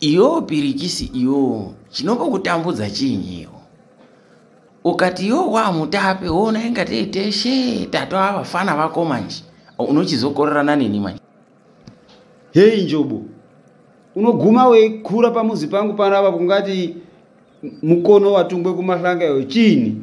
iyo pirikisi iyo chinombokutambudza chiinyiwo ukati iyo wamutape wona inga teiteshe tatova vafana vako manje unochizokorerana neni manje heyi njobo unoguma weikura pamuzi pangu panapa kungati mukono watungwe kumahlanga iyo chiini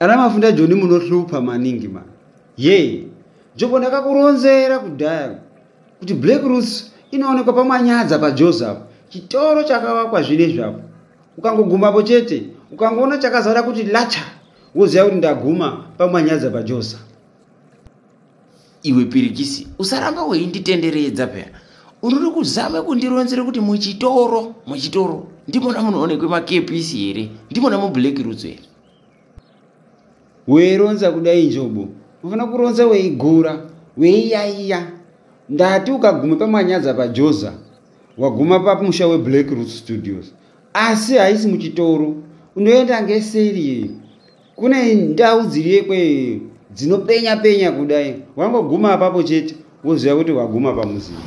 Ana Mafunda Joni munohlupa maningi ma. Yee, Joko ndakakuronzera kudhaya kuti Black Roots inoonekwa paManyadza paJozi apo. Chitoro chakavakwa zvinezvi apo. Ukangogumapo chete, ukangoona chakazara kuti lacha, woziva kuti ndaguma paManyadza paJozi. iwe pirikisi usaramba weinditenderedza peya unori kuzama kundironzera kuti muchitoro muchitoro ndimona munoonekwe makepisi here ndimona mublack rutso here weironza kudai njobo unofanira kuronza weigura weiyaiya ndati ukaguma pamanyadza pajoza waguma pamusha weblack root studios asi haisi muchitoro unoenda ngeseri kune ndau dziriyekwe dzinopenya penya kudai wangoguma apapo chete woziva kuti waguma pamuziva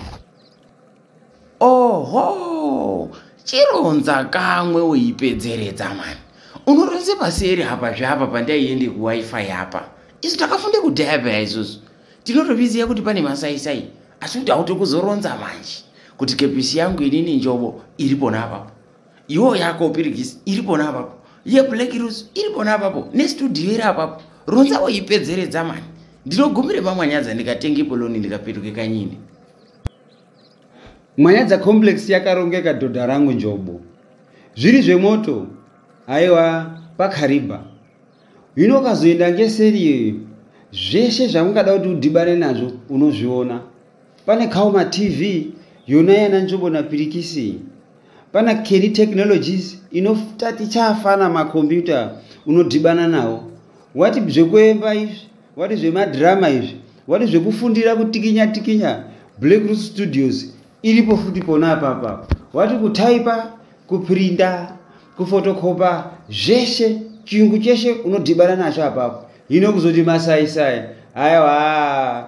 oho chironza kamwe uipedzeredza mani unoronze paseri apa zveapa pandaiende kuwifi apa isu takafunde kudhaya peya isusu tinotoviziva kuti pane masaisai asi kuti hauti kuzoronza manje kuti kepisi yangu inini njobo iri pona apapo iwo yako pirigisi iri pona apapo yeblack rose iri pona apapo nestudio iri apapo ronza woipedzeredza mani ndinogumire pamwanyadza ndikatenge poloni ndikapetuke kanyini mwanyadza complex yakarongeka dhodha rangu njobo zviri zvemoto aiwa pakariba hino ukazoenda ngeseri iyoyo zveshe zvaungada kuti udhibane nazvo unozviona pane kaoma tv yona yana njobo napirikisi Pana Kelly Technologies inofta tichafana makombiyuta unodhibana nawo. Wati zvekuemba izvi, wati zvemadrama izvi, wati zvekufundira kutikinya tikinya Black Root Studios iripo futi pona apapa. Wati kutaipa, kuprinda, kufotokopa zveshe chiyungu cheshe unodhibana nacho apapo. Hino kuzoti masai sai. Aiwa.